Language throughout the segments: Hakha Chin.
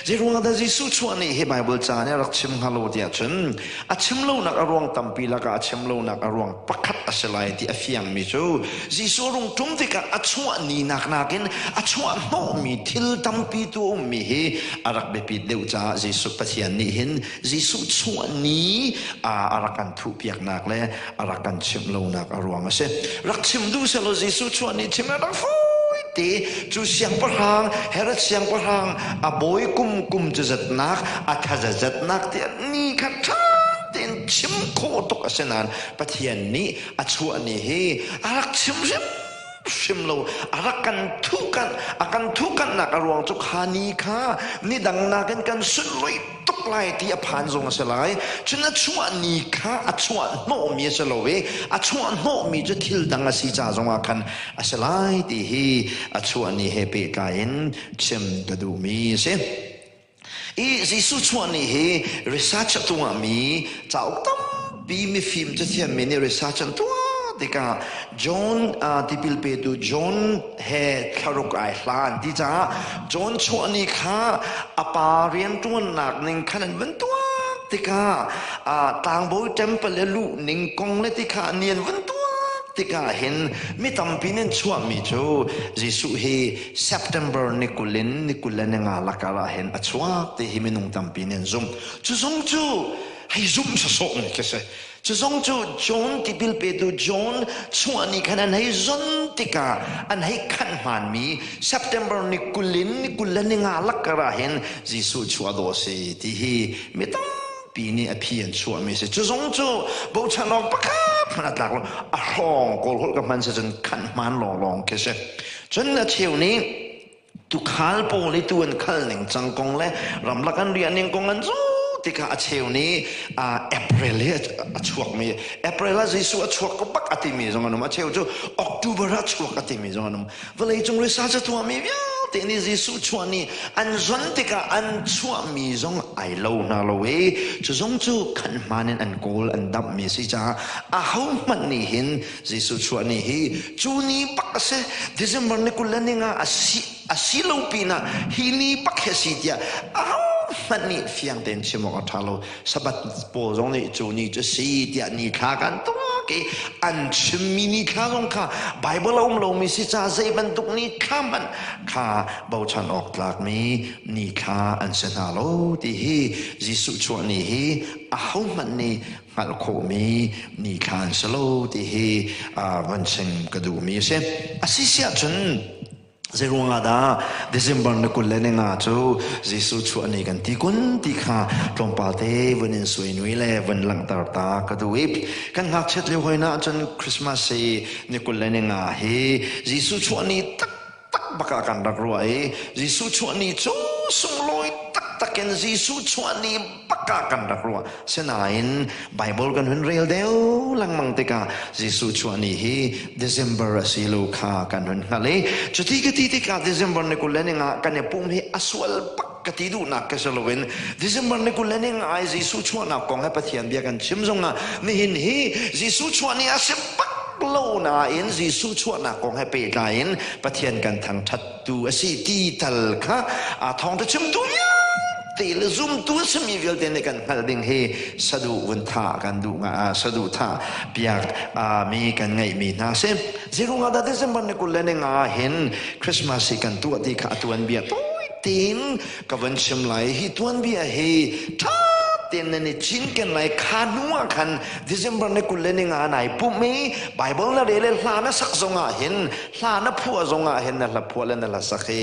Zeiruangah dah Jesuh chuah nih hi Baibal ca nih a rak chim hnga lo tiah cun a chim lonak a ruang tampi lakah a chim lonak a ruang pakhat a si lai ti a fiangmi cu Jesuh rungṭum tikah a chuah ninak nakin a chuah hnawhmi thil tampi tu a ummi hi a rak biapit deuh caah Jesuh Pathian nih hin Jesuh chuah ni a rak kan thuhpiaknak le a rak kan chimh lonak a ruang a si rak chim duh selaw Jesuh chuah ni chim a rak fawi te cu siangpahrang Herod siangpahrang a bawi kum kum cu zatnak a thaza zatnak ti ni kha ṭha tein chim khawh tuk a si nain Pathian nih a chuah ni hi a rak chim hrim hrim lo a rak kan thuhkanh a kan thuhkanhnak a ruang cu kha ni kha ni dang nakin kan sunruih tuk lai ti a phan zong a si lai cun a chuah ni kha a chuah hnawhmi a si lo i a chuah hnawhmi cu thil dang a si ca zongah khan a si lai ti hi a chuah ni he pehtlai in chim ka duhmi a si i Jesuh chuah ni hi research a tungah mi cauk tam Pi mifim cathiammi nih research an tuah tikah John uh, tipil petu John he thlaruk ai hlan ti caah John chuahni kha a pa rianṭuannak ning khan an van tuah tikah uh, tlangbawi temple le luh ning kong le tikha ni an van tuah tikah hin mi tampi nin chuahmi cu Jesuh hi September ni kul in ni kul le ni nga lakar ah hin a chuak ti hi minung tampi nin zumh cu zumh cu hei zumh sawsawh mi khi si cu zong cu John tipil petu John chungah nih khan an hei zon tikah an hei khanh hmaan mi September ni kul in ni kul le ni nga lakkar ah hin Jesuh chu a daw si ti hi mi tampi nih a phi an chuah mi si cu zong cu bochan awk pakhat hmanh a tlak lo a hrawng kawl holh ka hman si cun khanh hmaan lawnglawng khi si cun a cheu nih Tukhal pawl i tu an khal ning cang kong le ramlak an riah ning kong an zu tikah a cheu nih April hi a chuakmi April ah Jesuh a chuak ko bak a timi zong an um a cheu cu October ah chuak a timi zong an um vawlei cung research a tuahmi vialte nih Jesuh chuah ni an zon tikah an chuahmi zong ai lo na lo i cu zong cu kan hman in an kawl an damhmi a si caah a hohmanh nih hin Jesuh chuah ni hi cu ni pak a si December ni kul le ning ah a si a si lo pinah hi ni pak hi a si tiah ahohmanh nih fiang tein chim awk a ṭha lo Sabbath pawl zong nih cu ni cu si tiah ni thla kan tuak i an chimmi ni thla zong kha Baibal a um lomi si ca zei bantuk ni thla hmanh kha bochan awk tlakmi ni thla an si hna lo ti hi Jesuh chuah ni hi ahohmanh nih hngalh khawhmi nithlaan si lo ti hi van chim ka duhmi a si. A si siah cun zeiruangah dah December ni kul le ni nga cu Jesuh chuah ni kan ti kun ti kha tlawmpal te van in sui nui le van langhter ta ka duh i kan ngakchiat lio hoi na cun Christmas hi ni kul le ni nga hi Jesuh chuah ni tak tak bak ah kan rak ruah i Jesuh chuahni cu sunglawi taktak in Jesuh chuahni bak ah kan rak ruah sinain Bible kan hun rel deuh lengmang tikah Jesuh chuahni hi December a si lo kha kan hun hngalh i cuti ka ti tikah December ni kul le ning ah kan i pum hi a sual bak ka ti duhnak ka si loin December ni kul le ni nga i Jesuh chuahnak kong he Pathian bia kan chim zongah nihin hi Jesuh chuah ni a si pak lo nain Jesuh chuahnak kong he pehtlai in Pathian kan thangṭhattu a si ti tal kha aa thawng te chimtu te le zumtu simi vialte nih kan hngalh ding hi saduh vun tha kan duh nga saduh tha piak mi kan ngeih mi hna si zirung ah dah December ni kul le ni nga hin Christmas hi kan tuah ti kha a tuan bia tawi tiin ka van chim lai hi tuanbia hi tha ten nan i cinken lai kha hnu ah khan december ne kul le ni nga nai pum mi bible na re le hla na sak zong ah hin hla na phua zong ah hin na hla phua le na la sak hi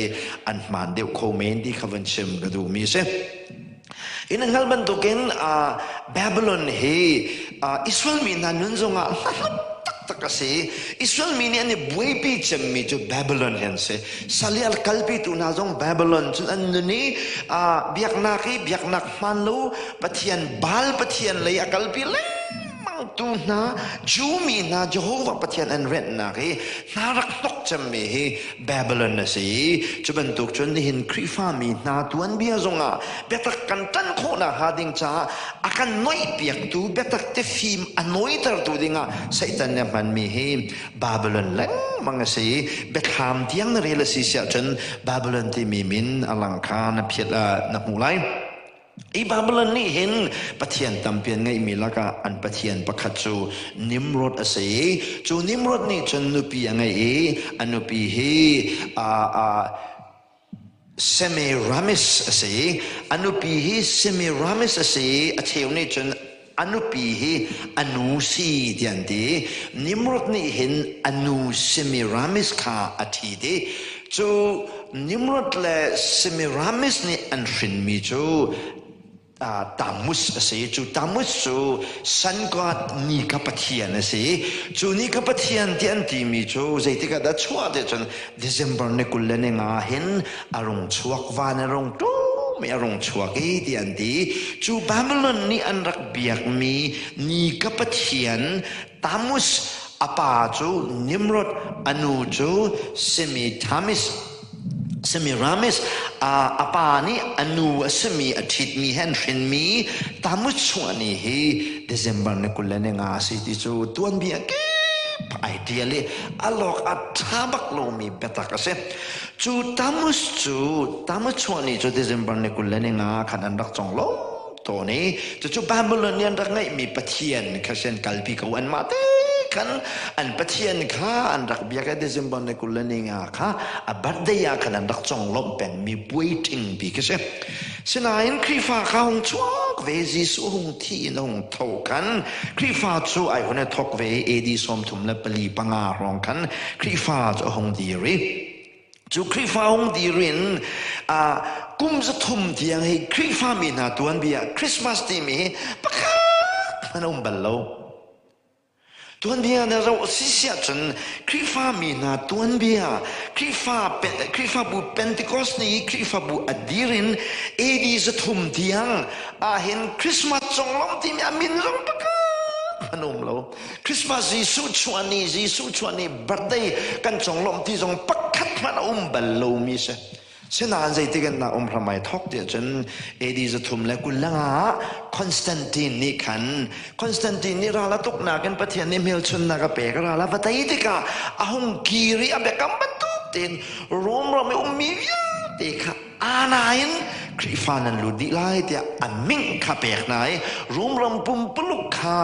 an hman deuh kho men ti kha van chim ka duh mi si In hngal bantukin Babylon hi Israel mi hna nun zongah hmanung taktak a si. Israel mi nih an i buaipi cemmi cu Babylon hi an si. Sali al kalpitu hna zong Babylon cun an nun i biaknak i biaknak hmaan lo Pathian Baal pathian lei a kalpi lai mangtu hna Jew mi hna Jehovah Pathian an renhnak hi hna rak hnok cemmi hi Babylon a si cu bantuk cun nihin Khrihfa mi hna tuanbia zongah biatak kan tan khawhnak hnga ding caah a kan noihpiaktu biatak te fim a noitertu dingah Satan nih a hmanmi hi Babylon lengmang a si biathlam tiang na rel a si siah cun Babylon timi min a lang kha na phiat na hmuh lai Hi Babylon nih hin Pathian tampi an ngeihmi lakah an Pathian pakhat cu Nimrod a si i cu Nimrod nih cun nupi a ngei i a nupi hi aa aa Semiramis a si i a nupi hi Semiramis a si i a cheu nih cun A nupi hi a nu si tiah an ti. Nimrod nih hin a nu Semiramis kha a thi dih. Cu Nimrod le Semiramis nih an hrinmi cu Tamus a si. Cu Tamus cu sun god ni kha pathian a si. Cu ni kha pathian ti an timi cu zeitik ah dah chuah ti cun December ni kul le ni nga hin a rung chuak van a rung ṭum i a rung chuak i ti an ti cu Babylon nih an rak biakmi ni ka pathian Tamus a pa cu Nimrod a nu cu Semitamis Semiramis a pa nih a nu a simi a ṭhitmi he an hrinmi Tamus chungah ni hi December ni kul le ni nga a si ti cu tuanbia kip ai ṭial i a lawk a ṭha bak lomi biatak a si. Cu Tamus cu Tamus chuahni cu December ni kul le ni nga khan an rak cong lo tawn i cucu Babylon nih an rak ngeihmi pathian kha sin kalpi ko an mah te khan an pathian kha an rak biak i December ni kul le ni nga kha a birthday ah khan an rak cong lawmh pengmi puai ṭhingpi khi si. Sinain Khrihfa kha hung chuak ve Jesuh hung thi in hung tho kan Khrihfa cu ai hun e thok ve AD sawmthum le pali panga rong khan Khrihfa cu hung dir i cu Khrihfa hung dir in a kum zathum tiang hi Khrihfa mi hna tuan bia Christmas timi pakhat hman a um bal lo Tuanbia na ro a si si ahcun Khrihfa mi hna tuanbia, Khrihfabu Pentecost ni i Khrihfabu a dir in AD zathum tiang ahhin Christmas conglawmh timi a min zong pakhat an um lo. Christmas Jesuh chuah ni, Jesuh chuah ni birthday kan conglawmh ti zong pakhat hmanh a um bal lomi si. Sinain zeitik in na um hram ai thok ti ahcun AD zathum le kul le nga ah Constantine nih khan Constantine nih ral a tuknak in Pathian nih hmelchunnak a pek a ral a va tei tikah a hung kir i a biakam bantuk tein Rome ram i ummi vialte kha ana in Khrihfa nan lut dih lai tiah an ming kha pek hna i Rome ram pumpuluk kha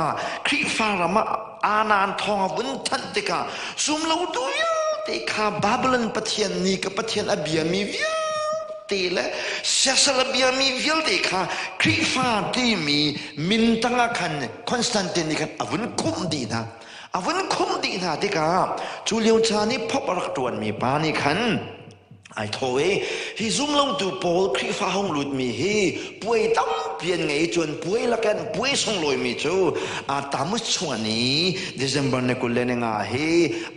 Khrihfa ram ah anan thawng a vun thanh tikah sum lo tu vialte kha Babylon pathian nih ka pathian a biami vialte le siasal a biami vialte kha Khrihfa timi min tangah khan Constantine nih khan a vun khumh dih hna a vun khumh dih hna tikah cu lio caan i phop a rak ṭuanmi pa nih khan ai tho i hi zumlotu pawl Khrihfa hong lutmi hi puai tampi an ngei cun puai lakin puai sunglawimi cu aa tamut chung an i December ni kul le ni nga hi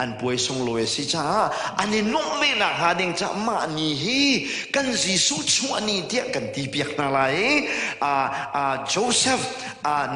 an puai sunglawi a si caah an i nuamh ve nak hnga ding caah mah ni hi kan Jesuh chung ani tiah kan ti piak hna lai i ah ah Joseph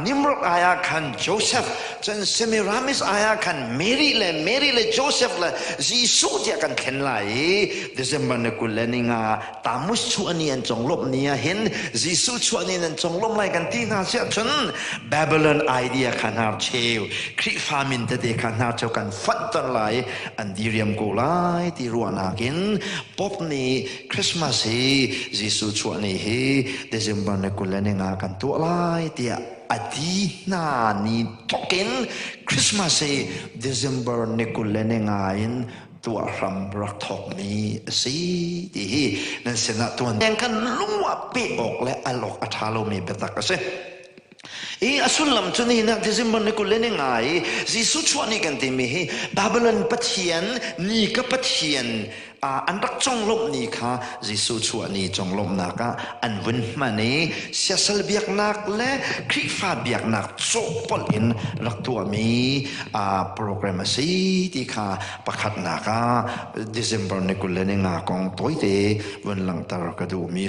Nimrod ai ah khan Joseph cun Semiramis ai ah khan Mary le Mary le Joseph le Jesuh tiah kan thlen lai i December ni kul le ni nga Tamus chuah ni an conglawmh ni ah hin Jesuh chuah ni an conglawmh lai kan ti hna siah cun Babylon idea kha hnar cheu Khrihfa min tete kha hnar cheu kan fanh ter lai an diriam ko lai ti ruahnak in Pope nih Christmas hi Jesuh chuah ni hi December ni kul le ni nga kan tuah lai tiah a ti hna ni thokin Christmas hi December ni kul le ni nga in tuah hram rak thokmi a si ti hi nan sinah tuan kan lung ah pek awk le alawk a ṭha lomi biatak a si. I a sullam cu nihin ti zimbon ni kul ni ngai Jesuh chuah ni kan timi hi Babylon Pathian ni ka Pathian an rak conglawmh ni kha Jesuh chuah ni conglawmhnak ah an vun hman i siasal biaknak le Khrihfa biaknak cawhpolh in rak tuahmi program a si ti kha pakhatnak ah December ni kul le ni nga kong tawite vun langhter ka duhmi